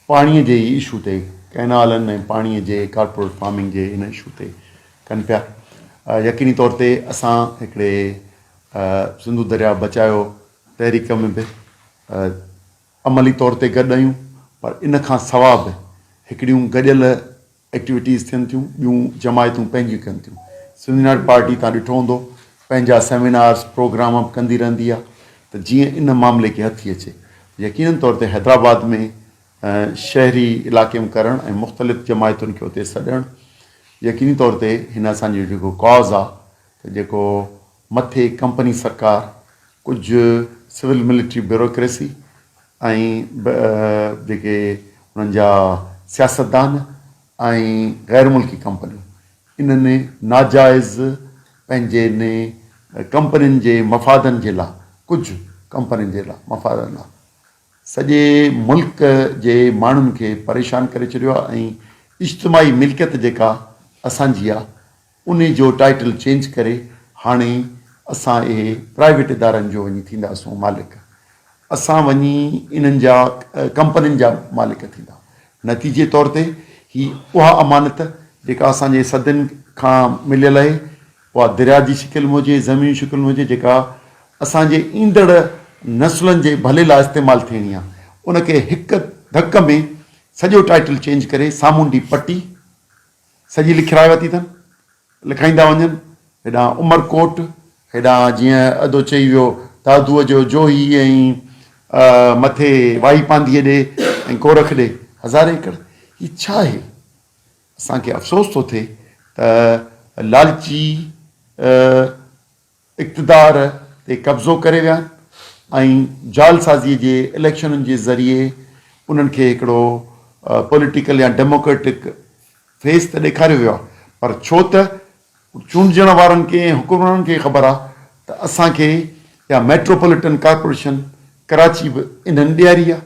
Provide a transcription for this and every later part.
پاڻي جي ئي اشو تي ڪئنالن ۽ پاڻي جي ڪارپوريٽ فارمنگ جي ان اشو تي ڪن پيا يقيني طور تي اسان هڪڙي سنڌو درياء بچايو تحريڪ ۾ به عملي طور تي گڏ آهيون پر ان کان سوا به هڪڙيون گڏيل ايڪٽيوٽيز ٿين ٿيون، ٻيون جماعتون پنهنجيون ڪن ٿيون. سنڌ يونائيٽيڊ پارٽي توهان ڏٺو هوندو پنهنجا سيمينارز، پروگرام به ڪندي رهندي آهي ته جيئن ان معاملي کي هٿي اچي ته يقينن طور تي حيدرآباد ۾ شهري علائقي ۾ ڪرڻ ۽ مختلف جماعتن کي اتي سڏڻ يقيني طور تي هن اسان جو جيڪو ڪاز آهي ته جيڪو مٿي ڪمپني سرڪار، ڪجهه سول ملٽري بيوروڪريسي ۽ به جيڪي انهن جا سياستدان ۽ غير ملڪي ڪمپنيون انهن ناجائز پنهنجين ڪمپنين جي مفادن جي لا ڪجهه ڪمپنين جي لا مفادن لا سڄي ملڪ جي ماڻهن کي پريشان ڪري ڇڏيو آهي ۽ اجتماعي ملڪيت جيڪا اسان جي آهي انهي جو ٽائيٽل چينج ڪري هاڻي اسان اهي پرائيويٽ ادارن جو وڃي ٿيندا سون مالڪ اسان وڃي انهن جا ڪمپنين جا مالڪ ٿيندا نتيجي طور تي هي اها امانت جيڪا اسان جي صدين کان مليل آهي اها دريا جي شڪل ۾ هجي زمين شڪل ۾ هجي جيڪا اسان جي ايندڙ نسلن جي ڀلي لاء استعمال ٿيڻي آهي ان کي هڪ ڌڪ ۾ سڄو ٽائيٽل چينج ڪري سامونڊي پٽي سڄي لکرائي ورتي اٿن. لکائيندا وڃن. هيڏانهن عمرڪوٽ، هيڏانهن جيئن ادو چئي ويو ته ادوء جو جوهي ۽ مٿي واهي پانڌيء ڏي ۽ ڪورخ ڏي هزارين ايڪڙ. هي ڇا آهي؟ اسان کي افسوس ٿو ٿئي ته لالچي. اقتدار تي قبضو ڪري ويا ۽ جعلسازي جي اليڪشنن جي ذريعي انهن کي هڪڙو پوليٽيڪل يا ڊيموڪريٽڪ فيس ته ڏيکاريو ويو آهي پر ڇو ته چونڊجڻ وارن کي ۽ حڪمرانن کي خبر آهي ته اسان کي يا ميٽروپوليٽن ڪارپوريشن ڪراچي به انهن ڏياري آهي.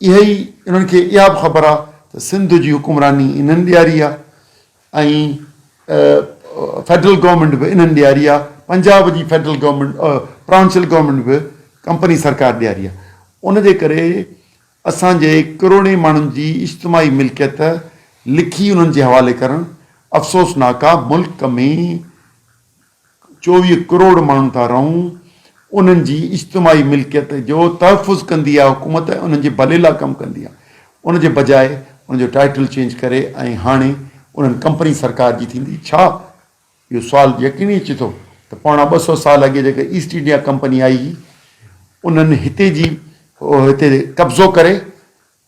اهي ئي انهن کي اها به خبر آ ته سنڌ جي حڪمراني انهن ڏياري آ ۽ فيڊرل گورنمينٽ به انهن ڏياري آ، پنجاب جي فيڊرل گورنمينٽ پراونشل گورنمينٽ به ڪمپني سرڪار ڏياري آ، ان جي ڪري اسان جي ڪروڙين ماڻهن جي اجتماعي ملڪيت لکي انهن جي حوالي ڪرڻ افسوسناڪ آ، ملڪ ۾ چوويهه ڪروڙ ماڻهو ٿا رهون انهن جي اجتماعي ملڪيت جو تحفظ ڪندي آهي حڪومت ۽ انهن جي ڀلي لاء ڪم ڪندي آهي ان جي بجاء ان جو ٽائيٽل چينج ڪري ۽ هاڻي انهن ڪمپني سرڪار جي ٿيندي ڇا اهو سوال يقيني اچي ٿو ته پوڻا ٻه سؤ سال اڳي جيڪا ايسٽ انڊيا ڪمپني آئي هئي انهن هتي جي هتي قبضو ڪري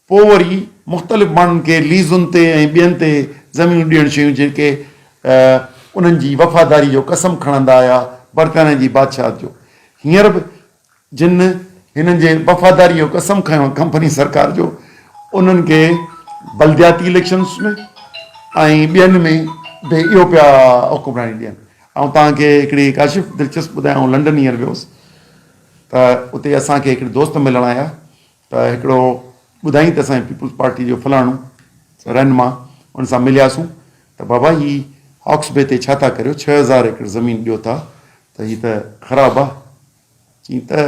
پوء وري مختلف ماڻهن کي ليزن تي ۽ ٻين تي زمينون ڏيڻ شيون جيڪي انهن جي وفاداري جو قسم کڻندا آيا برطانيه جي بادشاهت جو هينئر به جن هنن جي وفاداري جو قسم کنيو ڪمپني سرڪار جو انهن کي بلدياتي اليڪشنس ۾ ۽ ٻين ۾ به اهو پيا حڪمراني ڏين آئون توهان کي هڪڙي ڪاشف دلچسپ ٻڌايان آئون لنڊن هينئر ويوس ته اتي اسان کي هڪڙي دوست ملڻ آيا ته هڪڙو ٻڌائين ته اسان جي پيپلز پارٽي جو فلاڻو رهنما ان سان ملياسون ته بابا هي هاڪس بي تي ڇا ٿا ڪريو ڇهه هزار ايڪڙ زمين ڏيو ٿا ته هي ته خراب آ چين ته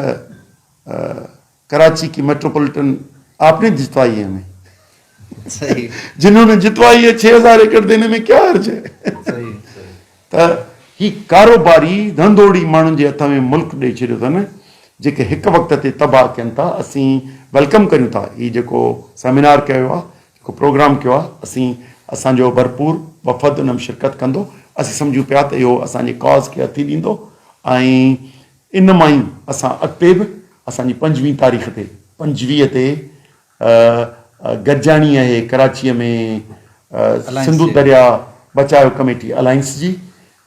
ڪراچي ڪي ميٽروپوليٽن آپ ني جتوائي هي همين جنهون ني جتوائي هي ڇهه هزار ايڪڙ ديني مين ڪيا حرج هي ته هي ڪاروباري ڌنڌوڙي ماڻهن جي هٿ ۾ ملڪ ڏئي ڇڏيو اٿن جيڪي هڪ وقت تي تباهه ڪين ٿا اسين ويلڪم ڪريون ٿا هي جيڪو سيمينار ڪيو ويو آهي جيڪو پروگرام ڪيو آهي اسين اسان جو ڀرپور وفد ان ۾ شرڪت ڪندو اسين سمجهون پيا ته اهو اسان جي ڪاز کي هٿي ڏيندو ۽ ان مان ئي اسان اڳتي به اسان جي پنجويهه تاريخ تي پنجويهه تي گڏجاڻي اهي ڪراچيء ۾ سنڌو درياء بچاء ڪميٽي الائنس جي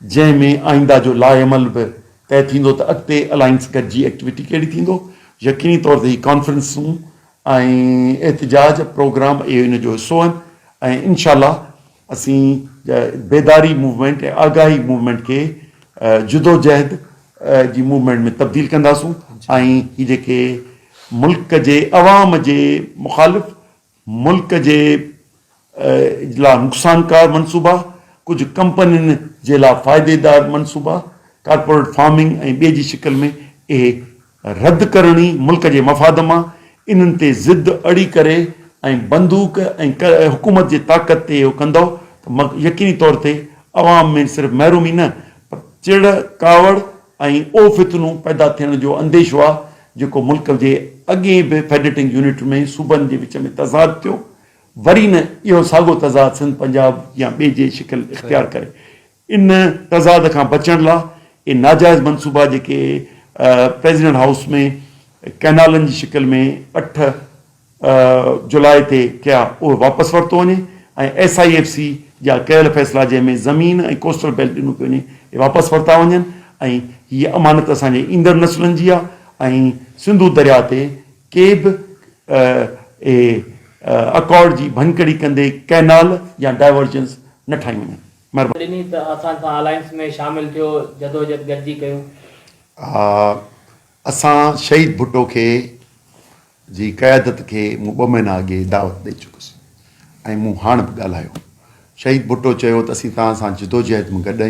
جنهن ۾ آئينده جو لائحهعمل به طئي ٿيندو ته اڳتي الائنس گڏجي ايڪٽيوٽي ڪهڙي ٿيندو يقيني طور تي هي ڪانفرنسون ۽ احتجاج پروگرام اهي ان جو حصو آهن ۽ انشاء الله اسين بيداري موومينٽ ۽ آگاهي موومينٽ کي جدوجهد جي موومينٽ ۾ تبديل ڪنداسون ۽ هي جيڪي ملڪ جي عوام جي مخالف ملڪ جي لا نقصانڪار منصوبا، ڪجهه ڪمپنين جي لا فائديدار منصوبا، ڪارپوريٽ فارمنگ ۽ ٻي جي شڪل ۾ اهي رد ڪرڻي ملڪ جي مفاد مان انهن تي ضد اڙي ڪري ۽ بندوق ۽ حڪومت جي طاقت تي اهو ڪندؤ ته يقيني طور تي عوام ۾ صرف محرومي نه پر چڙ ڪاوڙ ۽ اهو فتنو پيدا ٿيڻ جو انديشو آهي جيڪو ملڪ جي اڳين به فيڊريٽنگ يونٽ ۾ صوبن جي وچ ۾ تضاد ٿيو وري نه اهو ساڳو تضاد سنڌ پنجاب يا ٻي جي شڪل اختيار ڪري ان تضاد کان بچڻ لا اهي ناجائز منصوبا جيڪي پريزيڊنٽ هائوس ۾ ڪئنالن جي شڪل ۾ اٺ جولاء تي ڪيا اهي واپس ورتو وڃي ۽ ايس آء ايف سي جا ڪيل فيصلا جنهن ۾ زمين ۽ ڪوسٽل بيلٽ ڏنو پيو وڃي اهي واپس ورتا وڃن ۽ هي امانت اسان جي ايندڙ نسلن جي آهي ۽ سنڌو درياء تي ڪي به اهي اڪارڊ جي ڀڃڪڙي ڪندي ڪئنال يا ڊائيورجنس نه ٺاهيون وڃن. مھرباني. ڏني ته اسان سان الائنس ۾ شامل ٿيو جدوجھد گڏجي ڪيون. آ اسان شھيد ڀٽو کي جي قيادت کي مون ٻه مھينا اڳي دعوت ڏئي چڪس ۽ مون ھاڻ به ڳالھايو شھيد ڀٽو چيو ته اسين توھان سان جدوجھد م گڏ آھيون.